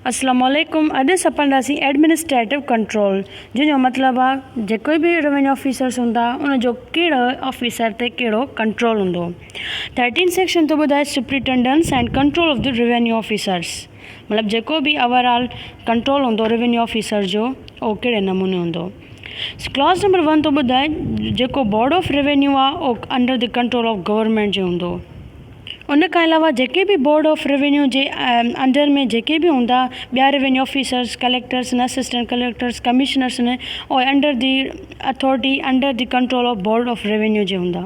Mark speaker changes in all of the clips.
Speaker 1: اسلام عليڪم اڄ اسان پڙهنداسين ايڊمنسٽريٽو ڪنٽرول جنهن جو مطلب آ جيڪو به روينيو آفيسرس هوندا ان جو ڪهڙو آفيسر تي ڪهڙو ڪنٽرول هوندو ٿرٽين سيڪشن ٿو ٻڌائي superintendence and control of the revenue officers مطلب جيڪو به اوور آل ڪنٽرول هوندو روينيو آفيسر جو اهو ڪهڙي نموني هوندو ڪلاز نمبر ون ٿو ٻڌائي جيڪو بورڊ آف روينيو آ او under the control of government جي هوندو ان کان علاوه جيڪي به بورڊ آف روينيو جي انڊر ۾ جيڪي به هوندا ٻيا revenue officers collectors and assistant collectors commissioners in O under the authority under the control of board of revenue جي هوندا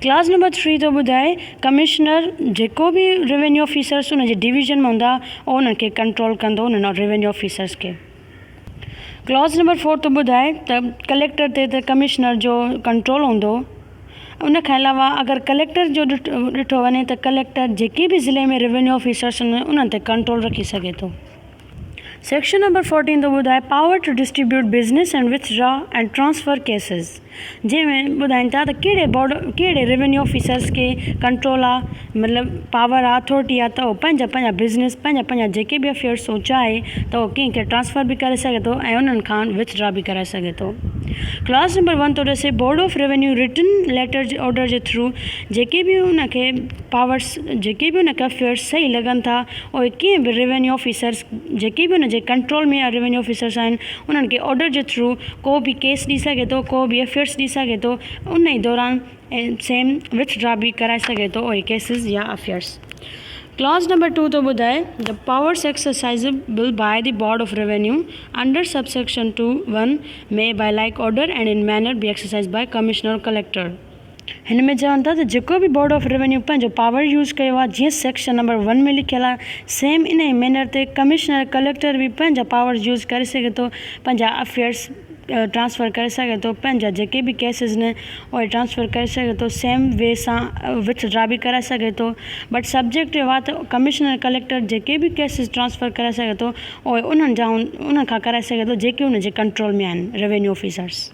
Speaker 1: ڪلاز نمبر ٿري ٿو ٻڌائي ڪمشنر جيڪو به روينيو آفيسرس ان جي ڊويزن ۾ هوندا او انهن کي ڪنٽرول ڪندو انهن روينيو آفيسرس کي ڪلاز نمبر فور ٿو ٻڌائي ته ڪليڪٽر تي ته ڪمشنر جو ڪنٽرول هوندو. ان کان علاوه اگر ڪليڪٽر جو ڏٺو وڃي ته ڪليڪٽر جيڪي به ضلعي ۾ روينيو آفيسرس هونديون انهن تي ڪنٽرول رکي سگهي ٿو. سيڪشن نمبر فورٽين ٿو ٻڌائي power to distribute business and withdraw and transfer cases. جنهن ۾ ٻڌائين ٿا ته ڪهڙي بورڊ ڪهڙي ريونيو آفيسرس کي ڪنٽرول آ مطلب پاور آ اٿارٽي آ ته اهو پنهنجا پنهنجا بزنس پنهنجا پنهنجا جيڪي به افيئرس سو چاهي ته اهو ڪنهن کي ٽرانسفر به ڪري سگهي ٿو ۽ انهن کان وٿڊرا به ڪرائي سگهي ٿو ڪلاس نمبر ون ٿو ڏسي board of revenue written letter جي آرڊر جي ٿرو جيڪي به ان کي پاورس جيڪي به ان کي افيئرس صحيح لڳن ٿا اهي ڪنهن به ريونيو آفيسرس جيڪي به ان جي ڪنٽرول ۾ ريونيو آفيسرس آهن انهن کي آرڊر جي ٿرو ڪو به ڪيس ڏئي سگهي ٿو ڪو به ايف اي آرس ڏئي سگهي ٿو ان ئي دوران سيم وٿ ڊرا به ڪرائي سگهي ٿو اهي ڪيسز يا affairs clause number two ٿو ٻڌائي the powers exercisable by the board of revenue under sub section two one may by like order and in manner be exercised by commissioner or collector هن ۾ چون ٿا ته جيڪو به board of revenue پنهنجو power use ڪيو آهي جيئن سيڪشن نمبر ون ۾ لکيل آهي سيم انهي مينر تي ڪمشنر ڪليڪٽر به پنهنجا پاورز يوز ڪري سگهي ٿو پنهنجا افيئرز ٽرانسفر ڪري سگهي ٿو پنهنجا جيڪي به ڪيسز آهن اهي ٽرانسفر ڪري سگهي ٿو سيم وي سان وٿ ڊرا به ڪرائي سگهي ٿو بٽ سبجيڪٽ اهو آهي ته ڪمشنر ڪليڪٽر جيڪي به ڪيسز ٽرانسفر ڪرائي سگهي ٿو اهي انهن جا انهن کان ڪرائي سگهي ٿو جيڪي ان جي ڪنٽرول ۾ آهن روينيو آفيسرز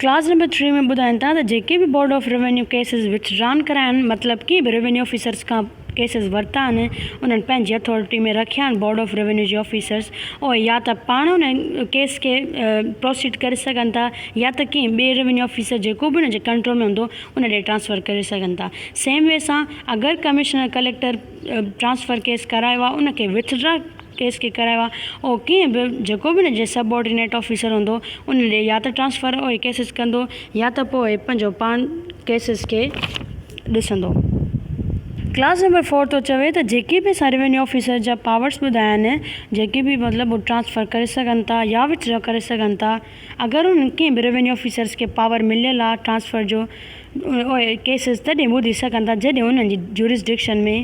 Speaker 1: ڪلاس نمبر ٽي ۾ ٻڌائين ٿا ته جيڪي به board of revenue cases withdrawn ڪرايا آهن مطلب ڪنهن به روينيو آفيسرز کان ڪيسز ورتا آهن انهن پنهنجي اٿارٽي ۾ رکيا آهن بورڊ آف روينيو جي آفيسرز اهي يا ته پاڻ ان ڪيس کي پروسيڊ ڪري سگهن ٿا يا ته ڪنهن ٻئي روينيو آفيسر جيڪو به ان جي ڪنٽرول ۾ هوندو ان ڏي ٽرانسفر ڪري سگهن ٿا سيم وي سان اگر ڪمشنر ڪليڪٽر ٽرانسفر ڪيس ڪرايو آهي ان کي وٿڊرا ڪيس کي ڪرايو آهي اهو ڪنهن به جيڪو به ان جي سب آرڊينيٽ آفيسر هوندو ان ڏي يا ته ٽرانسفر اهي ڪيسز ڪندو يا ته پوء پنهنجو پاڻ ڪيسز کي ڏسندو. ڪلاس نمبر فور ٿو چوي ته جيڪي به اسان روينيو آفيسر جا پاورس ٻڌايا آهن جيڪي به مطلب هو ٽرانسفر ڪري سگهن ٿا يا وٿ ڊرا ڪري سگهن ٿا. اگر انهن ڪنهن به روينيو آفيسرز کي پاور مليل آهي ٽرانسفر جو اهي ڪيسز تڏهن ٻڌي سگهن ٿا جڏهن انهن جي جورسڊڪشن ۾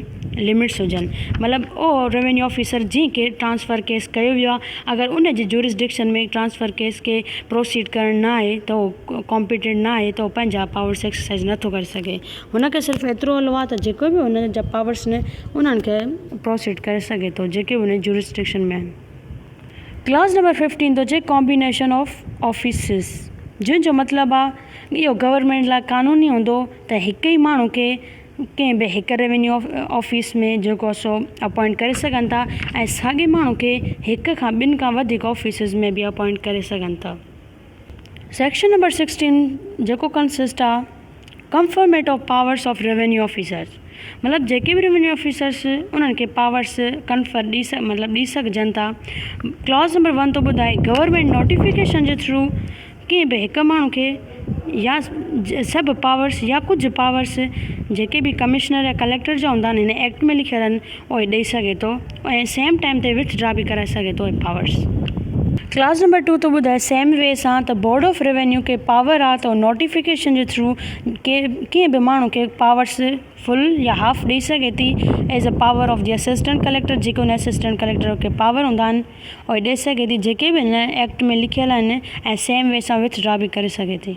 Speaker 1: لمٽس هجن مطلب اهو روينيو آفيسر جنهن کي ٽرانسفر ڪيس ڪيو ويو آهي اگر ان جي جورسڊڪشن ۾ ٽرانسفر ڪيس کي پروسيڊ ڪرڻ نه آهي ته اهو ڪامپيٽنٽ نه آهي ته اهو پنهنجا پاورس ايڪسرسائز نٿو ڪري سگهي هن کي صرف ايترو هلو آهي ته جيڪو به ان جا پاورس آهن انهن کي پروسيڊ ڪري سگهي ٿو جيڪي به ان جي جورسڊڪشن ۾ آهن ڪلاس نمبر ففٽين ٿو چئي ڪامبينيشن آف آفيسز جنهن جو مطلب آ اهو گورمينٽ لاء قانوني هوندو ته هڪ ئي ماڻهو کي ڪنهن به هڪ ريونيو آفيس ۾ جيڪو آ سو اپوائنٽ ڪري سگهن ٿا ۽ ساڳي ماڻهو کي هڪ کان ٻن کان وڌيڪ آفيسز ۾ به اپوائنٽ ڪري سگهن ٿا سيڪشن نمبر سڪسٽين جيڪو consist of conferment of powers of revenue officers مطلب جيڪي به ريونيو آفيسرس انهن کي پاورس ڪنفر ڏي مطلب ڏي سگهجن ٿا ڪلاز نمبر ون ٿو ٻڌائي گورنمينٽ نوٽيفڪيشن جي ٿرو ڪنهن به هڪ ماڻهو کي يا سڀ پاورس يا ڪجهه پاورس جيڪي به ڪمشنر يا ڪليڪٽر جا هوندا آهن هن ايڪٽ ۾ لکيل آهن اهي ڏئي سگهي ٿو ۽ سيم ٽائيم تي وٿ ڊرا به ڪرائي سگهي ٿو اهي پاورس. ڪلاس نمبر ٽو ٿو ٻڌائي سيم وي سان ته بورڊ آف روينيو کي پاور آ ته هو نوٽيفڪيشن جي ٿرو ڪنهن به ماڻهو کي پاورس فل يا هاف ڏئي سگهي ٿي as a power of the assistant collector جيڪي هن اسسٽنٽ ڪليڪٽر کي پاور هوندا آهن اهي ڏئي سگهي ٿي جيڪي به هن ايڪٽ ۾ لکيل آهن ۽ سيم وي سان وٿ ڊرا به ڪري سگهي ٿي.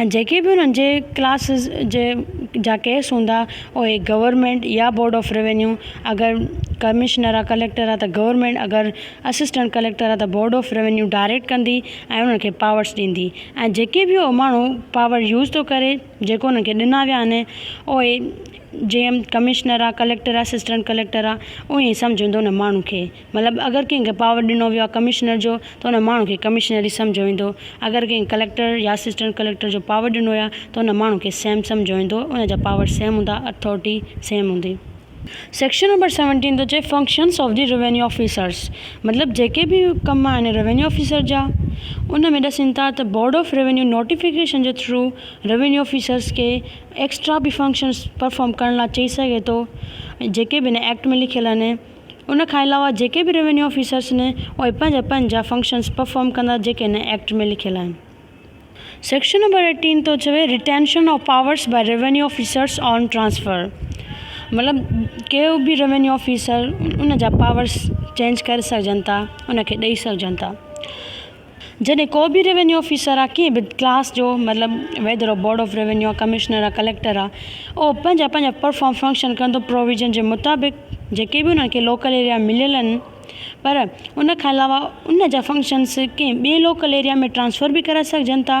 Speaker 1: ۽ جيڪي به انهن جي ڪلاسز جي جا ڪيس هوندا اهي گورنمينٽ يا بورڊ آف روينيو اگر ڪمشنر آ ڪليڪٽر آ ته گورنمينٽ اگر اسسٽنٽ ڪليڪٽر آ ته بورڊ آف روينيو ڊائريڪٽ ڪندي ۽ انهن کي پاورس ڏيندي ۽ جيڪي به اهو ماڻهو پاور يوز ٿو ڪري جيڪو انهن کي ڏنا ويا آهن اهي جي ايم ڪمشنر آ ڪليڪٽر آ اسسٽنٽ ڪليڪٽر آ اهي سمجهندو ان ماڻهو کي مطلب اگر ڪنهن کي پاور ڏنو ويو آهي ڪمشنر جو ته ان ماڻهو کي ڪمشنر ئي سمجهيو ويندو اگر ڪنهن کي ڪليڪٽر يا اسسٽنٽ ڪليڪٽر جو پاور ڏنو ويو آهي ته ان ماڻهو کي سي ايم سمجهيو ويندو ان جا پاور سيم هوندا اٿارٽي سيم هوندي. سيڪشن نمبر سيونٽين ٿو چئي functions of the revenue officers مطلب جيڪي به ڪم آهن روينيو آفيسر جا ان ۾ ڏسين ٿا ته بورڊ آف روينيو نوٽيفڪيشن جي ٿرو روينيو آفيسرس کي ايڪسٽرا به فنڪشنس پرفارم ڪرڻ لاء چئي سگهي ٿو جيڪي به ان ايڪٽ ۾ لکيل آهن ان کان علاوه جيڪي به روينيو آفيسرس آهن اهي پنهنجا پنهنجا فنڪشنس پرفارم ڪندا جيڪي هن ايڪٽ ۾ لکيل آهن. سيڪشن نمبر ايٽين ٿو چوي retention of powers by revenue officers on transfer مطلب ڪي به روينيو آفيسر ان جا پاورس چينج ڪري سگهجن ٿا ان کي ڏئي سگهجن ٿا. جڏهن ڪو به روينيو آفيسر آ ڪنهن به ڪلاس جو مطلب ويدر او بورڊ آف روينيو آ ڪمشنر آ ڪليڪٽر آ اهو پنهنجا پنهنجا پرفارم فنڪشن ڪندو پروويزن جي مطابق جيڪي به انهن کي لوڪل ايريا مليل ان پر ان کان علاوه ان جا فنڪشنس ڪنهن ٻي لوڪل ايريا ۾ ٽرانسفر به ڪرائي سگهجن ٿا